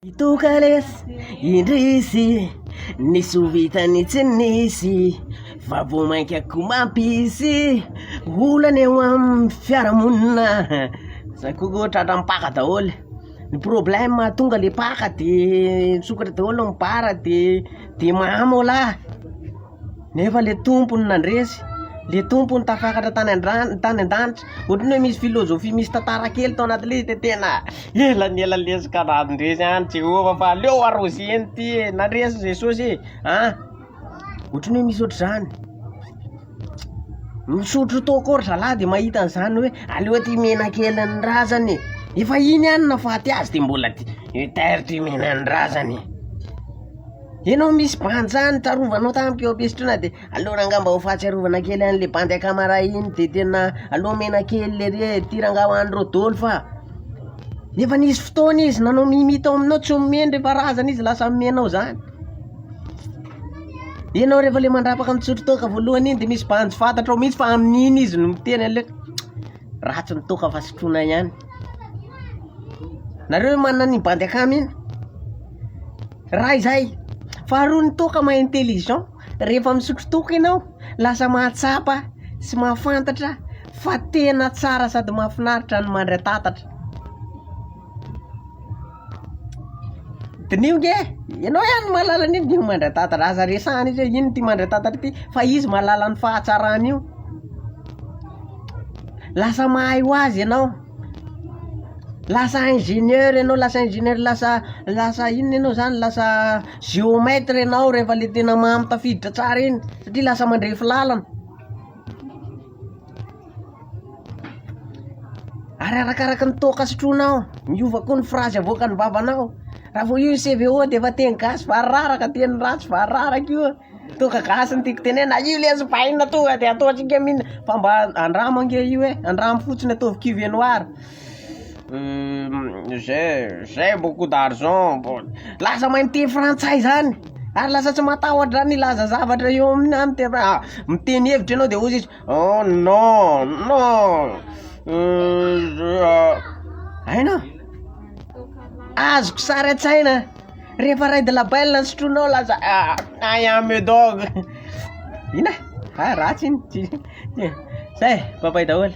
Ito kalesy indrisy Nisy ho vitany tsy nisy Fa vao mainka ko mampisy Olana eo amin'ny fiarahamonina Zay ko koa tratran'ny mpaka daholo Ny problème mahatonga le mpaka de misokatra daholo ny mpara de de mahamaolaha Nefa le tompony nandresy, le tompony tafakatra tany an-drano, tany an-danitra. Ohatry ny hoe misy philosophie, misy tantara kely tao anatin'ilay izy dia tena ela ny ela lesy ka nandresy any Jehovah fa aleo aroseny ty e, nandresy Jesosy e, an. Ohatry ny hoe misy ohatr'izany. Misotro tao koa ry zalahy dia mahita an'izany hoe aleo ty mihena kely ny razana e. Efa iny ihany nahafaty azy dia mbola ty, mi-taire ty mihena ny razana e. Enao misy bandy zany tarovanao tamiko eo ampisotrona de aleo rangah mba ho fahatsiarovana kely anle bandy akamara iny de tena aleo omena kely lery e, ty rangah ho anreo doly fa efa nisy fotoana izy nanao mimi tao aminao tsy omeny refa razana izy lasa omenao zany, enao refa le mandrapaka mitsotro toaka voalohany iny de misy bandy tsy fantatrao mintsy fa amin'iny izy no miteny aleo ratsy ny toaka fa sotroina ihany. Nareo ve manana an'iny bandy akama iny? Raha izay, faharoa ny toaka maha intelligent, rehefa misotro toaka ianao, lasa mahatsapa sy mahafantatra fa tena tsara sady mahafinaritra ny mandra-tatatra. Diniho nge, ianao ihany no mahalala an'iny diniho mandra-tatatra, aza resahina izy hoe ino ity mandra-tatatra ity fa izy mahalala ny fahatsarany io, lasa mahay ho azy ianao, lasa ingénieur ianao, lasa ingénieur, lasa lasa inona ianao zany, lasa géomètre ianao rehefa le tena mahay tafiditra tsara iny satria lasa mandrefy lalana. Ary arakaraka ny toaka sotroinao, miova koa ny frazy avoakan'ny vavanao, raha vao io ny CVO dia efa teny gasy vararaka, teny ratsy vararaka io, toaka gasy no tiako tenenina, io lesy vahiny tonga dia ataontsika mihitsy, fa mba andramo ange io e, andramo fotsiny ataovy cuve noir, j'ai j'ai beaucoup d'argent, lasa mahay miteny frantsay zany, ary lasa tsy matahotra zany hilaza zavatra eo aminà, miteny hevitra ianao dia hozy izy. Oh non non euh, aina azoko sary an-tsaina rehefa ray de la belle ny sotroinao lasa aïe ah me dog ina ah ratsy iny zay papay daholo.